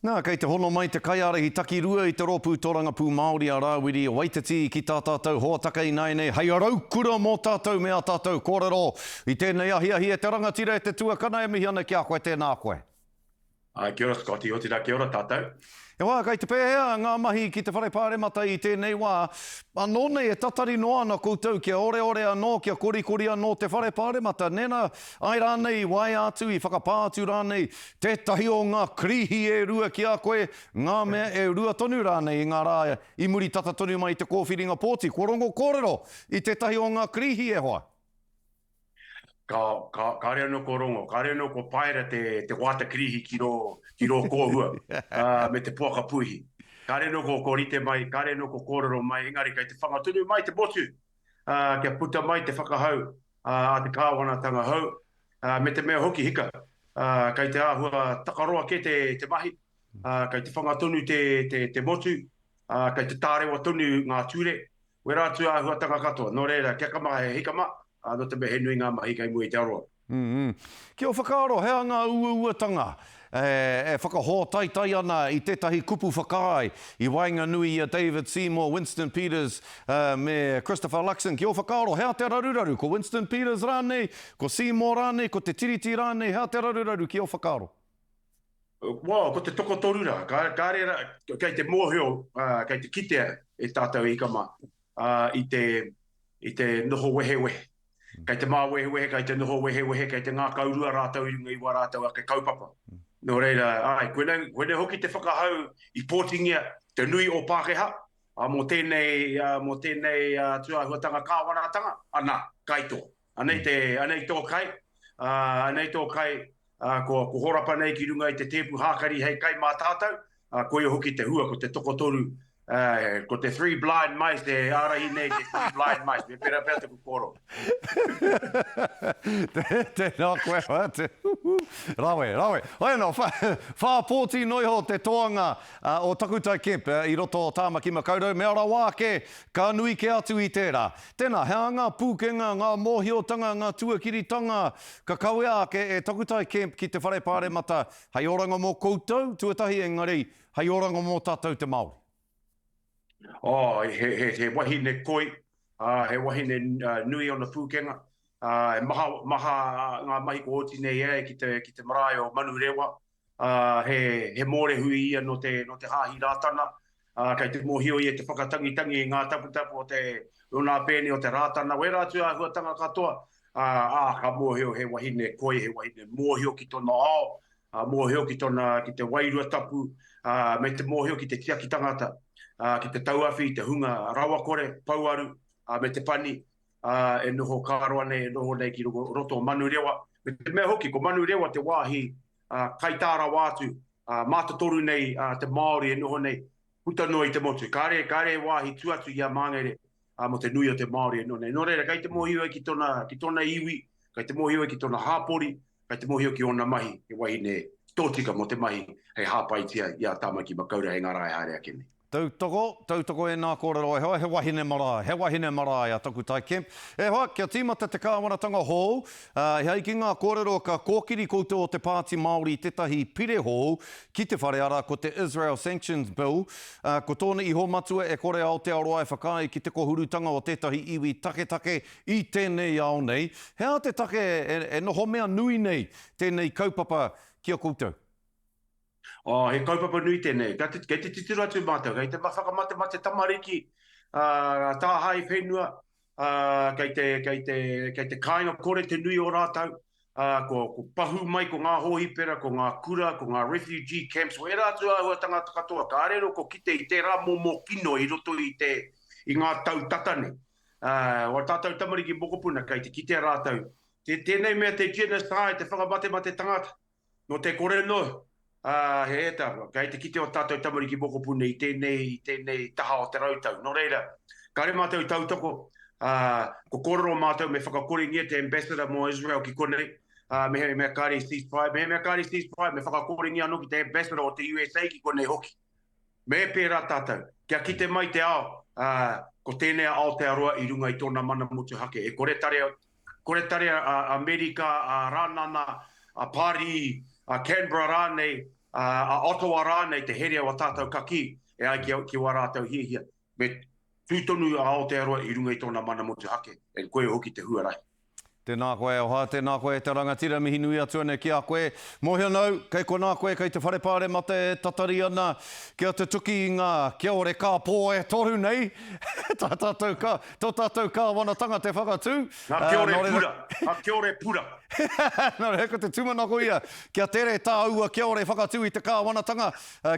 Nā, kei te hono mai te kaiārahi takirua i te Rōpū Tōrangapū Māori a Rāwiri o Waititi ki tā tātou hōtaka ināianei hei raukura mō tātou me ā tātou kōrero i tēnei ahiahi e te rangatira, e te tuakana, e mihi ana ki a koe, tēnā koe. Āe, kia ora Scotty, otirā kia ora tātou. E wā, kei te pēhea ngā mahi ki te Whare Pāremata i tēnei wā? Anō nei e tatari noa ana koutou kia oreore anō, kia korikori anō te Whare Pāremata, nena, ae rānei, waea atu i whakapā atu rānei Tētahi o ngā Krihi e rua ki a koe, ngā mea e rua tonu rānei i ngā rā i muri tata tonu mai i te kōwhiringa pōti, kua rongo kōrero i tētahi o ngā Krihi e hoa? Ka, ka, kāre anō kua rongo, kāre anō kua paera te, te wāta Krihi ki rō, ki rō kōhua, ā, me te poaka puihi. Kāre anō kua, kua rite mai, kāre anō kua kōrero mai, engari kei te whanga tonu mai te motu! kia puta mai te whakahau a te kāwanatanga hou, me te mea hoki hika, kei te āhua takaroa kē te mahi, kei te whanga tonu te motu, kei te tārewa tonu ngā ture, wera atu āhuatanga katoa. Nō reira, kia ka maha he hikama, nō te mea he nui ngā mahi kei mua i te aroaro. Ki ō whakaaro, he aha ngā uauatanga e whakahōtaitai ana i tētahi kupu whakaae i waenganui i a David Seymour, Winston Peters me Christopher Luxon? Ki ō whakaaro, he aha te raruraru? Ko Winston Peters rānei? Ko Seymour rānei? Ko te Tiriti rānei? He aha te raruraru ki ō whakaaro? Wau, ko te tokotoru rā. Kāre rā, kei te mōhio, kei te kitea e tātou e hika mā i te noho wehewehe. Kei te māwehewehe, kei te noho wehewehe, kei te ngākau rua rātou i runga i wā rātou ake kaupapa. Nō reira, āe, koinei, koinei hoki te whakahau i pōtingia te nui o Pākehā mō tēnei, mō tēnei tūāhuatanga kāwanatanga, anā, kai tō. Anei, te, anei tō kai, anei tō kai, ko, ko horapa nei ki runga i te tēpu hākari hei kai mā tātou, Ā, koia hoki te hua, ko te tokotoru, ā, ko te three blind mice e ārahi nei te three blind mice, me pērā pea taku kōrero. Tēnā koe hoatu. Huhu. Rawe, rawe. Hoi anō, wha, whā pōti noa iho te toanga o Takutai Kemp i roto o Tāmaki Makaurau, mea rawa ake, ka nui kē atu i tērā. Tēnā, he aha ngā pūkenga, ngā mōhiotanga, ngā tuakiritanga ka kawea ake e Takutai Kemp ki te Whare Pāremata Hei oranga mō koutou, tuatahi engari, hei oranga mō tātou te Māori. Oh, he, he, he wahine koi, uh, he wahine uh, nui ona pūkenga. Uh, e maha, maha ngā mahi ko oti nei e ki te, ki te marae o Manurewa. Uh, he, he mōrehu ia no te, no te Hāhi Rātana. Ā, kei te mōhio ia i te whakatangitangi i ngā taputapu o te Runa Pēne o te Rātana, wērā atu āhuatanga katoa, ā, ka mōhio he wahine koi, he wahine mōhio ki tōna ao, ā, mōhio ki tōna, ki te wairua tapu, ā, me te mōhio ki te tiaki tangata, ā, ki te tauawhi i te hunga rawakore, pouaru, ā, me te pani, ā, e noho kararoa nei, e noho nei ki roto o Manurewa, me te mea hoki, ko Manurewa te wāhi kai tā rawa atu, mātotoru nei te Māori e noho nei, puta noa i te motu. Kāre, kāre he wāhi tū atu i a Māngere mō te nui o te Māori e noho nei. Nō reira, kai te mōhio ai ki tōna, ki tōna iwi, kai te mōhio ai ki tōna hāpori, kai te mōhio ki ōna mahi, he wahine tōtika mō te mahi hei hāpaitia i a Tāmaki Makaurau hei ngārae haere ake nei. Tautoko, tautoko e nā kōrero e hoa, he wahine marae, he wahine marae a Takutai Kemp. E hoa, kia tīmata te kāwanatanga hou, ā, e ai ki ngā kōrero ka kōkiri koutou o te Pāti Māori tētahi pire hou ki te whare arā ko te Israel Sanctions Bill, ā, ko tōna iho matua e kore Aotearoa e whakaae ki te kohurutanga o tētahi iwi taketake i tēnei ao nei. He aha te take e, e noho mea nui nei tēnei kaupapa ki a koutou? Oh, he kaupapa nui tenei. Kei te, kei te titiro atu mātou, kei te whakamatemate tamariki, uh, tāhae whenua, uh, kei, te, kei, te, kei te kāinga kore te nui o rātou, uh, ko, ko pahu mai ko ngā hōhipera, ko ngā kura, ko ngā refugee camps, ko ērā atu āhua tangata katoa, ka rero ko kite i tērā momo kino i roto i, te, i ngā tau tata nei. Uh, o tātou tamariki mokopuna, kei te kitea rātou, te, tēnei mea te genocide, te whakamatemate tangata, Nō te kore noa, ā, he ētahi, kei te kite ō tātou tamariki mokopuna i tēnei, i tēnei taha o te rautau. Nō reira, kāre mātou i tautoko, ā, kua kōrero mātou me whakakorengia te Ambassador mō Israel ki konei, ā, mehemea kāre i ceasefire, mehemea kāre i ceasefire, me whakakorengia anō ki te Ambassador o te USA ki konei hoki. Me pērā tātou, kia kite mai te ao, ā, ko tēnei a Aotearoa i runga i tōna mana motuhake, e kore tarea, Kore tari a Amerika, a Ranana, a Pari, a Canberra rānei, a Ottawa rānei te herea o a tātou kakī e ai ki wā rātou hiahia. Me tū tonu a Aotearoa i runga i tōna mana motuhake, and koia hoki te huarahi. Tēnā koe e Oha, tēnā koe e te rangatira, mihi nui atu anei ki a koe. Mōhio nau, kei konā koe, kei te Whare Pāremata e tatari ana kia tutuki i ngā kia ore kāpō e toru nei, tā tātou ka. Tō tātou Kāwanatanga te whakatū. Nga kiore pura, nga kiore pura. Nō reira, ko te tūmanako ia, kia tere tāua kiore whakatū i te Kāwanatanga,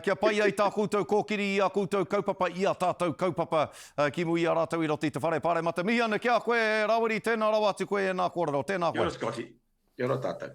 kia pai ai tā koutou kōkiri i ā koutou kaupapa, i ā tātou kaupapa ki muri i a rātou i roto i te Whare Pāremata. Mihi ana ki a koe, Rawiri, tēnā rawa atu koe e nā kōrero. Tēnā koe. Kia ora Scotty. Kia ora tātou.